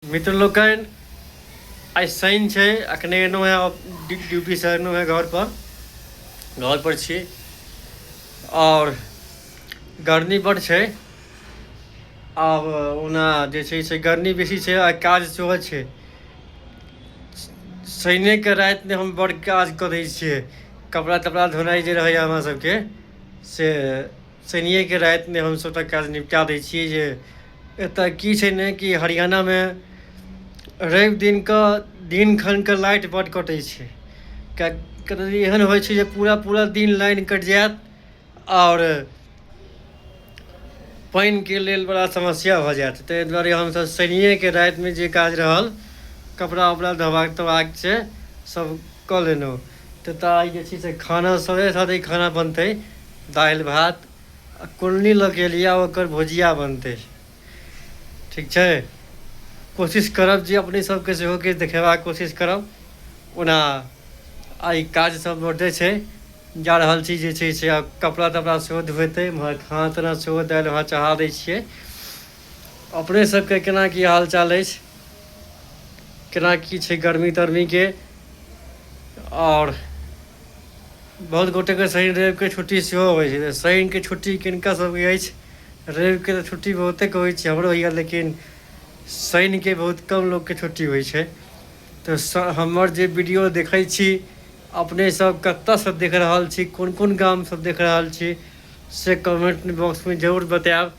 मित्र लोकनि आइ शनि छै अखने एलहुँ हेँ ड्यूटीसँ एलहुँ हेँ घरपर घरपर छी आओर गर्मी बड्ड छै आब ओना जे छै से गर्मी बेसी छै आ काज सेहो छै शनिके रातिमे हम बड़ काज करै छियै कपड़ा तपड़ा धोनाइ जे रहैए हमरा सभके से शनिएके रातिमे हमसभ तऽ काज निपटा दै छियै जे एतय की छै ने कि हरियाणामे रवि दिनके दिन खनके लाइट बड्ड कटै छै किएक कतेक दिन एहन होइ छै जे पूरा पूरा दिन लाइन कटि जायत आओर पानिके लेल बड़ा समस्या भऽ जायत ताहि दुआरे हमसभ शनिएके रातिमे जे काज रहल कपड़ा उपड़ा धोबाक तोबाक छै सभ कऽ लेलहुँ तऽ तऽ आइ जे छै से खाना सङ्गे साथे खाना बनतै दालि भात आ कुल्ली लऽ के एलियै ओकर भुजिया बनतै ठीक छै कोशिश करब जे अपने सबके सेहो किछु देखेबाक कोशिश करब ओना आइ काज सब बड्डे छै जा रहल छी जे छै से आब कपड़ा तपड़ा सेहो धुएतै एम्हर खाना ताना सेहो दालि भात चढ़ा दै छियै अपने सबके केना की हाल चाल अछि केना की छै गर्मी तरमीके आओर बहुत गोटेके शनि रविके छुट्टी सेहो होइ छै तऽ शनिके छुट्टी किनका सबके अछि रविके तऽ छुट्टी बहुतेके होइ छै हमरो होइए लेकिन शनिके बहुत कम लोकके छुट्टी होइ छै तऽ हमर जे वीडियो देखै छी अपने सब कतऽसँ देख रहल छी कोन कोन गामसँ देख रहल छी से कमेन्ट बॉक्समे जरूर बतायब